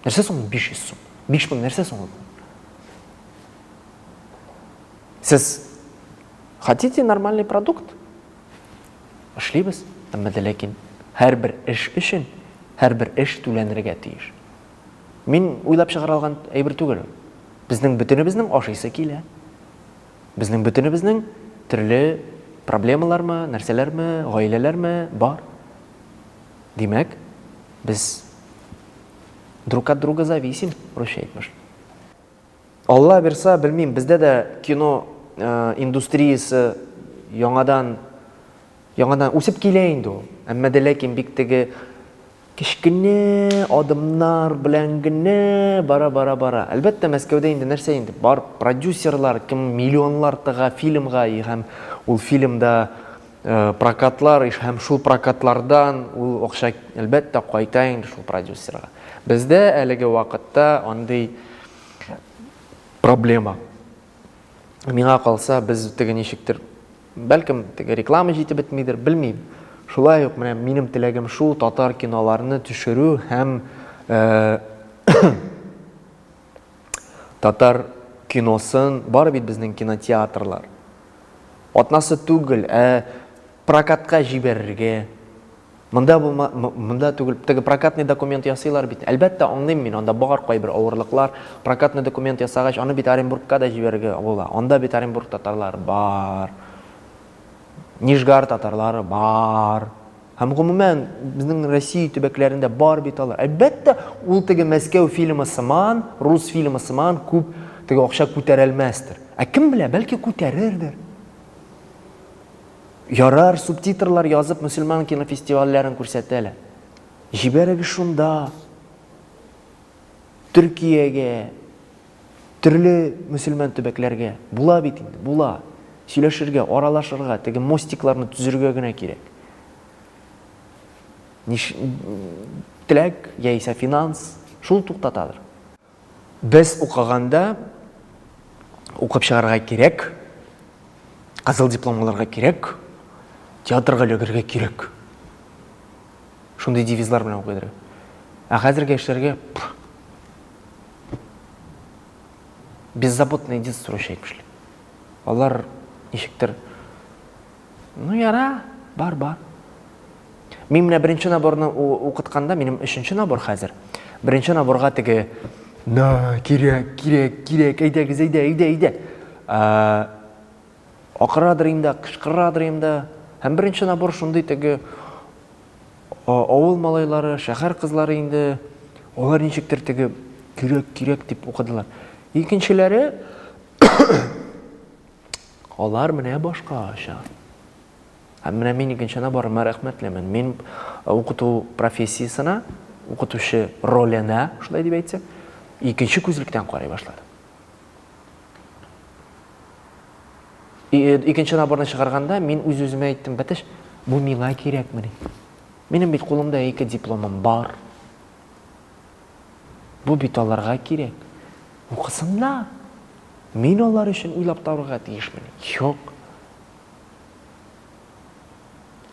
Нәрсә соң 500 сум? 5000 нәрсә соң ул? Сез хотите нормальный продукт? Эшлибез, әмма дә ләкин һәрбер эш өчен һәрбер эш түләнергә тиеш. Мин уйлап чыгара алган әйбер түгел. Безнең бөтенебезнең ашыйсы килә. Безнең бөтенебезнең төрле проблемалармы, нәрсәләрме, гаиләләрме бар. Димәк, без друг от друга зависим, русча әйтмеш. Алла бирса, белмим, бездә дә кино индустриясе яңадан яңадан үсеп килә инде ул. Әмма дә ләкин бик теге кечкенә адымнар белән генә бара бара бара. Әлбәттә, Мәскәүдә инде нәрсә инде? Бар продюсерлар, кем миллионлар тыга фильмга и һәм ул фильмда Э, прокатлар һәм шул прокатлардан ул акча әлбәттә кайта инде шул продюсерга бездә әлеге вакытта андый проблема миңа калса без теге ничектер бәлкем теге реклама җитеп бетмидер белмим шулай ук менә минем теләгем шул татар киноларны төшерү һәм э, Татар киносын бары бит безнең кинотеатрлар атнасы түгел, ә прокатка җибәрергә. Монда булма, монда түгел, теге прокатный документ ясыйлар бит. Әлбәттә, аңлыйм мин, анда бар кайбер авырлыклар. Прокатный документ ясагач, аны бит Оренбургка да җибәрергә була. Анда бит Оренбург татарлары бар. Нижгар татарлары бар. Һәм гомумән, безнең Россия төбәкләрендә бар бит алар. Әлбәттә, ул теге Мәскәү фильмы сыман, рус фильмы сыман күп теге акча күтәрәлмәстер. Ә кем белә, бәлки күтәрердер. Ярар, субтитрлар язып мөселман кинофестивальләрен күрсәтәләр. Җибәрегез шунда. Төркиягә, Төрле мөселман төбәкләргә була бит инде, була. Сөйләшергә, аралашырга, теге мостикларны төзергә генә кирәк. Ниш... Теләк, яисә финанс, шул туктатадыр. Без укыганда укып чыгарга кирәк, кызыл диплом алырга кирәк, театрга эләгергә кирәк. Шундый девизлар белән укыдыр. Ә хәзерге яшьләргә беззаботное детство яшәйк бишле. Алар ничектер Ну яра, бар, бар. Мин менә беренче наборны укытканда, минем өченче набор хәзер. Беренче наборга теге на кирәк, кирәк, кирәк, әйдәгез, әйдә, әйдә, әйдә. Ә, акырадыр инде, кычкырадыр инде. Һәм беренче набор шундый теге Авыл малайлары, шәһәр кызлары инде алар ничектер теге кирәк, кирәк дип укыдылар. Икенчеләре алар менә башкача. Һәм менә мин икенченә барыма рәхмәтлемен. Мин укыту профессиясенә, укытучы роленә, шулай дип әйтсәк, икенче күзлектән карый башладым. Э, икенче наборны чыгарганда мин үз үземә әйттем бәтеш бу миңа кирәкмени минем бит кулымда ике дипломым бар бу бит аларга кирәк укысыннар мин алар өчен уйлап табарга тиешмени юк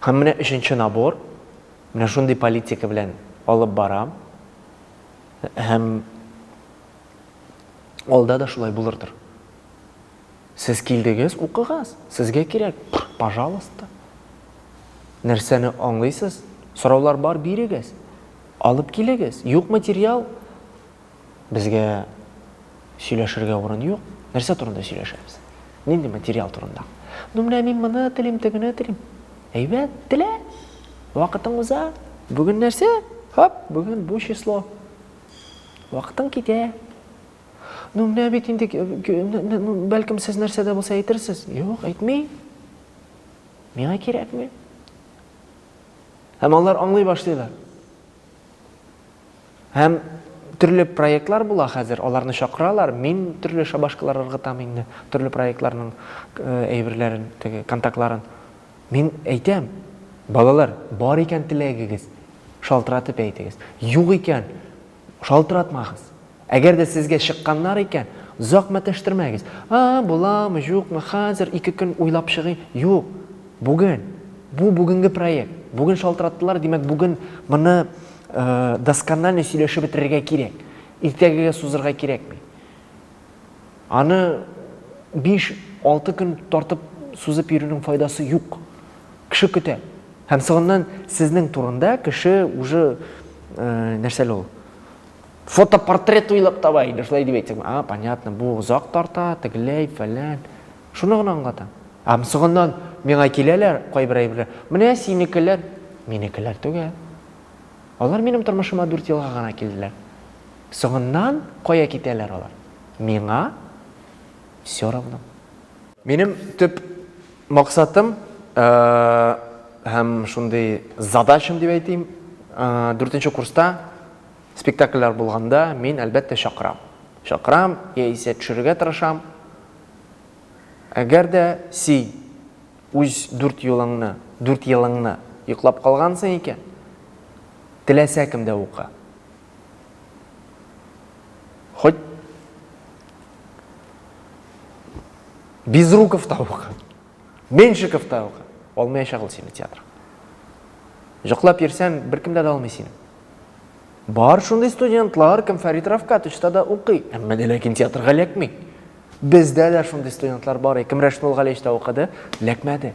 һәм менә өченче набор менә шундый политика белән алып барам һәм Алда да шулай булырдыр. Сез килдегез, укыгыз. Сезгә кирәк, пожалуйста. Нәрсәне аңлыйсыз? Сораулар бар, бирегез. Алып килегез. Юк материал. Безгә сөйләшергә урын юк. Нәрсә турында сөйләшәбез? Нинди материал турында? Ну, менә мин моны телим, тегене телим. Әйбәт, телә. Вакытың уза. Бүген нәрсә? Хоп, бүген бу число. Вакытың китә. Ну, менә бит инде, бәлкем, сез нәрсә дә булса әйтерсез. Юк, әйтмим. Миңа кирәкми. Һәм алар аңлый башлыйлар. Һәм төрле проектлар була хәзер, аларны чакыралар, мин төрле шабашкалар ыргытам инде, төрле проектларның э, әйберләрен, теге контактларын. Мин әйтәм, балалар, бар икән теләгегез, шалтыратып әйтегез. Юк икән, шалтыратмагыз. Әгәр дә сезгә чыкканнар икән, озак мәтәштермәгез. А, буламы, юкмы, хәзер ике көн уйлап чыгыйм. Юк, бүген. Бу бүгенге проект. Бүген шалтыраттылар, димәк, бүген моны досконально сөйләшеп бетерергә кирәк. Иртәгегә сузырга кирәкми. Аны биш, алты көн тартып сузып йөрүнең файдасы юк. Кеше көтә. Һәм соңыннан сезнең турында кеше уже нәрсә ул? Фотопортрет уйлап таба инде, шулай дип әйтсәң. А, понятно, бу озак тарта, тегеләй, фәлән. Шуны гына аңлата. Һәм соңыннан миңа киләләр кайбер әйберләр. Менә синекеләр, минекеләр түгел. Алар минем тормышыма 4 елга гына килделәр. Соңыннан кая китәләр алар? Миңа все равно. Минем төп максатым һәм шундый задачам дип әйтим, дүртенче курста спектакльләр булганда, мин, әлбәттә, чакырам. Чакырам, яисә төшерергә тырышам. Әгәр дә син үз дүрт юлыңны, дүрт елыңны йоклап калгансың икән, теләсә кемдә укы. Хоть Безруков та ука, Меншиков та ука. Алмаячак ул сине театр. Җоклап йөрсәң, беркем дә алмый сине. Бар шундый студентлар, кем Фәрит Рафкатовичта да укый, әмма дә ләкин театрга ләкми. Бездә дә шундый студентлар бар, кем Рәшмул Галиевичта укыды, ләкмәде.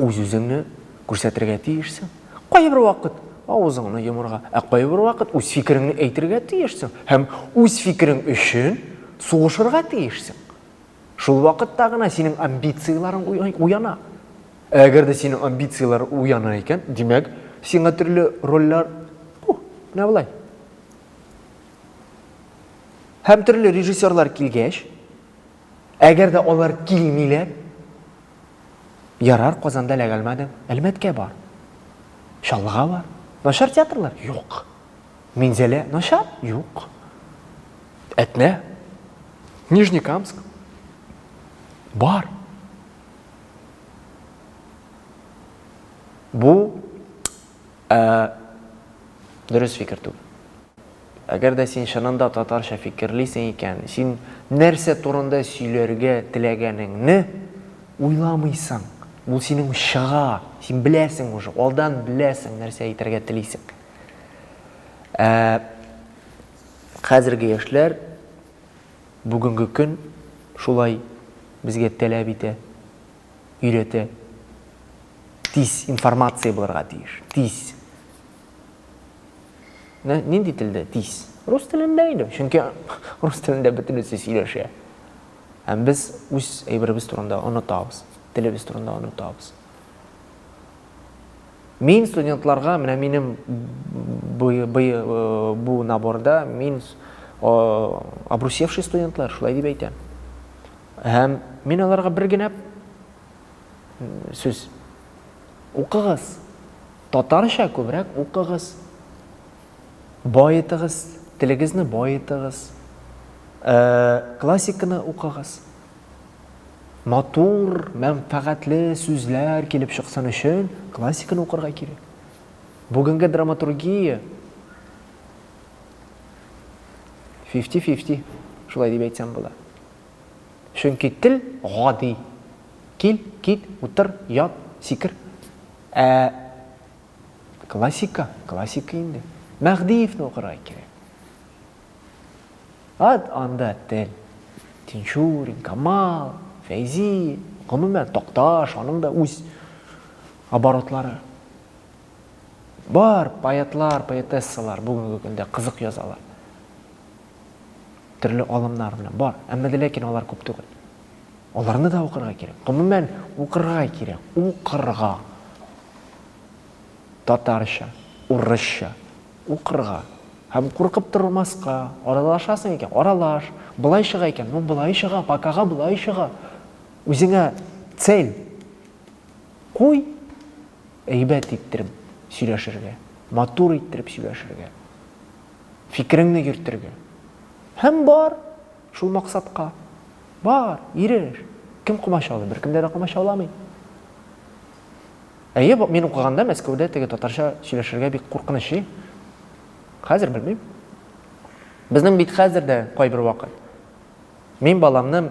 үз-үзеңне күрсәтергә тиешсең. Кайбер вакыт авызыңны йомырга, ә кайбер вакыт үз фикереңне әйтергә тиешсең һәм үз фикерең өчен сугышырга тиешсең. Шул вакытта гына синең амбицияләрең уяна. Әгәр дә синең амбицияләр уяна икән, димәк, сиңа төрле рольләр, бу, менә болай. Һәм төрле режиссерлар килгәч, Әгәр дә алар килмиләр, ярар, Казанда ләгалмадем, Әлмәткә бар. Чаллыга бар. Начар театрлар? Юк. Минзәлә начар? Юк. Әтнә? Нижнекамск? Бар. Бу Ә дөрес фикер түгел. Әгәр дә син чынында татарча фикерлисең икән, син нәрсә турында сөйләргә теләгәнеңне уйламыйсың. Ул синең чыга, син беләсең уже, алдан беләсең нәрсә әйтергә телисең. Ә хәзерге яшьләр бүгенге көн шулай безгә таләп итә. өйрәтә. Тиз, информация булырга тиеш. Тиз. Менә нинди телдә тиз? Рус телендә инде, чөнки рус телендә бөтенесе сөйләшә. Һәм без үз әйберебез турында онытабыз, телебез турында онытабыз. Мин студентларга, менә минем бу наборда мин обрусевший студентлар, шулай дип әйтәм. Һәм мин аларга бер генә сүз. Укыгыз. Татарча күбрәк укыгыз. Баетыгыз, телегезне баетыгыз. Э, классиканы укыгыз. Матур, мәнфәгатьле сүзләр килеп чыксын өчен классиканы укырга кирәк. Бүгенге драматургия 50-50, шулай дип әйтсәм була. Чөнки тел гади, кил, кит, утыр, ят, сикер. Ә классика, классика инде. Мәһдиевне укырга кирәк. Ат анда тел. Тинчурин, Камал, Фәйзи, гомумән Токташ, аның да үз оборотлары. Бар поэтлар, поэтессалар бүгенге көндә кызык язалар. төрле алымнар белән бар. Әмма дә ләкин алар күп түгел. Аларны да укырга кирәк. Гомумән, укырга кирәк. Укырга. Татарча, урысча укырга. Һәм куркып тормаска, аралашасың икән, аралаш. Болай чыга икән, ну болай чыга, бакага болай чыга. Үзеңә цель куй, әйбәт иттереп сөйләшергә, матур иттереп сөйләшергә. фикереңне йөртергә. Һәм бар, шул максатка. Бар, иреш. Кем комачаулый? Беркемдә дә комачауламый. Әйе, мин укыганда Мәскәүдә теге татарча сөйләшергә бик куркыныч и. Хәзер белмим. Безнең бит хәзер дә кайбер вакыт. Мин баламны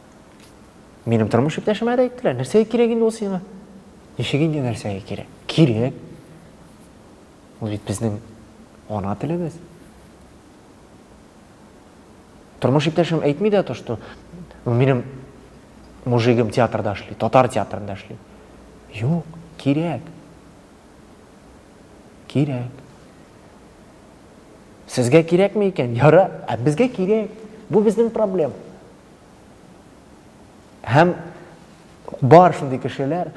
Минем тормыш иптәшемә дә әйттеләр, нәрсәгә кирәк инде ул сиңа? Ничек инде нәрсәгә кирәк? Кирәк. Ул бит безнең ана телебез. Тормыш иптәшем әйтми дә то, что ну, минем мужигым театрда эшли, татар театрында эшли. Юк, кирәк. Кирәк. Сезгә кирәкме икән? Яра, ә безгә кирәк. Бу безнең проблема. Һәм бар шундый кешеләр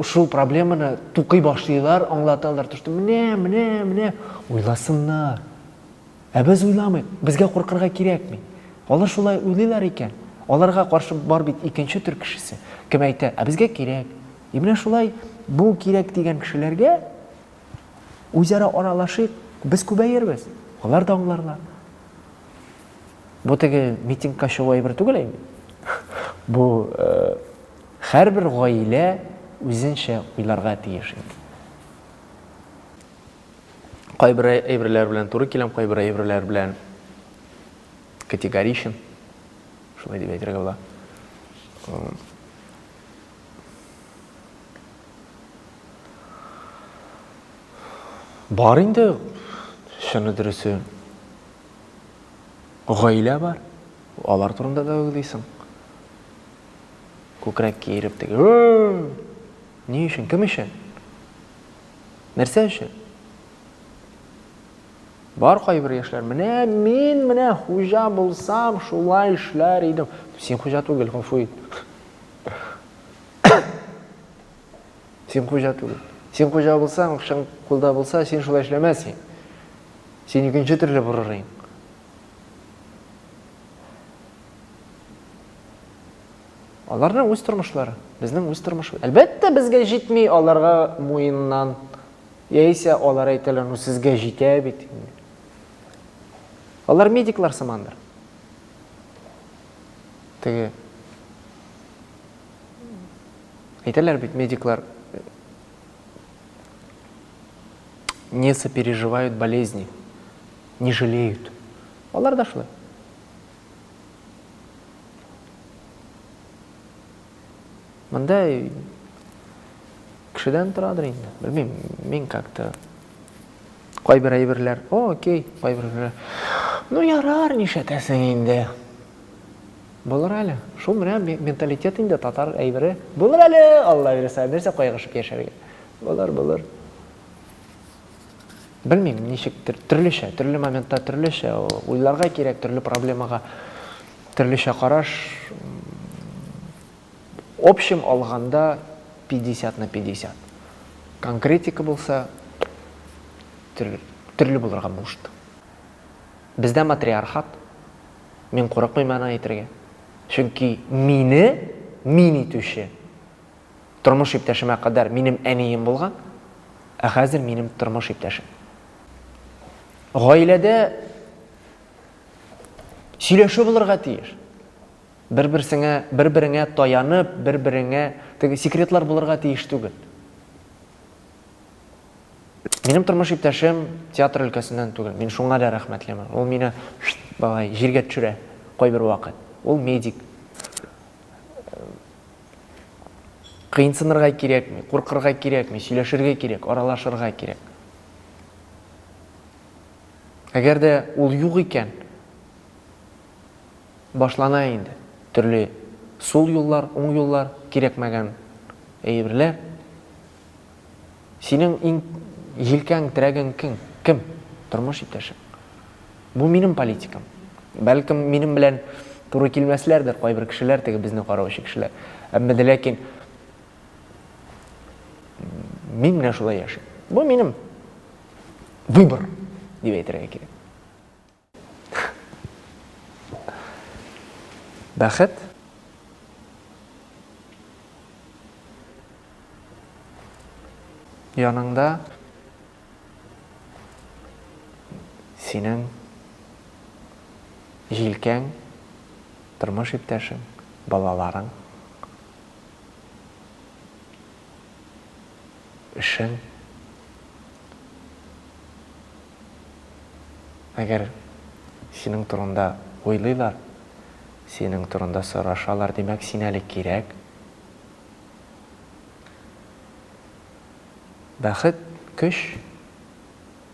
шул проблеманы тукый башлыйлар, аңлаталар, төште, менә, менә, менә, уйласыннар. Ә без уйламыйк, безгә куркырга кирәкми. Алар шулай уйлыйлар икән. Аларга каршы бар бит икенче төр кешесе. Кем әйтә, ә безгә кирәк. И менә шулай бу кирәк дигән кешеләргә үзара аралашыйк, без күбәербез. Алар да аңларлар. Бу теге митингка чыгу әйбер түгел инде. Бу һәрбер гаилә үзенчә уйларга тиеш инде. Кайбер әйберләр белән туры киләм, кайбер әйберләр белән категоричен. Шулай дип әйтергә була. Бар инде, шуны дөресе. Гаилә бар. Алар турында да уйлыйсың. Күкрәк киереп теге. Ни өчен? Кем өчен? Нәрсә өчен? Бар кайбер яшьләр, менә мин менә хуҗа булсам, шулай эшләр идем. Син хуҗа түгел, гафу ит. Син хуҗа түгел. Син хуҗа булсаң, акчаң кулда булса, син шулай эшләмәс идең. Син икенче төрле борыр идең. Аларның үз тормышлары, безнең үз тормышыбыз. Әлбәттә, безгә җитми аларга муеннан. Яисә алар әйтәләр, ну сезгә җитә бит. Алар медиклар сымандыр. Теге Әйтәләр бит медиклар не сопереживают болезни, не жалеют. Алар да шулай. Монда кешедән торадыр инде. Белмим, мин как-то кайбер әйберләр, о, окей, кайбер әйберләр. Ну, ярар, нишләтәсең инде. Булыр әле. Шул менә менталитет инде, татар әйбере. Булыр әле, Алла бирса, нәрсә кайгырышып яшәргә. Булыр, булыр. Белмим, ничектер, төрлечә, төрле моментта төрлечә уйларга кирәк, төрле проблемага төрлечә караш. Общем алганда 50 на 50. Конкретика булса, төрле булырга может. Бездә матриархат. Мин курыкмыйм аны әйтергә. Чөнки мине мин итүче тормыш иптәшемә кадәр минем әнием булган, ә хәзер минем тормыш иптәшем. Гаиләдә сөйләшү булырга тиеш. Бер-берсеңә, бер-береңә таянып, бер-береңә теге секретлар булырга тиеш түгел. Минем тормыш иптәшем театр өлкәсеннән түгел. Мин шуңа да рәхмәтлемен. Ул мине балай җиргә төшерә кайбер вакыт. Ул медик. Кыйнсынырга кирәкми, куркырга кирәкми, сөйләшергә кирәк, аралашырга кирәк. Әгәр дә ул юк икән, башлана инде төрле сул юллар, уң юллар, кирәкмәгән әйберләр. Синең иң җилкәң, терәгең кең, кем? Тормыш иптәшең. Бу минем политикам. Бәлкем, минем белән туры килмәсләрдер кайбер кешеләр, теге безне караучы кешеләр. Әмма дә ләкин мин менә шулай яшим. Бу минем выбор, дип әйтергә кирәк. Бәхет яныңда синең җилкәң, тормыш иптәшең, балаларың. өчен, әгәр синең турында уйлыйлар, синең турында сорашалар, димәк, син әле кирәк. Бәхет, көч,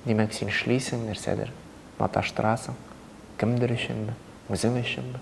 димәк, син эшлисең, нәрсәдер маташтырасың, кемдер өченме, үзең өченме.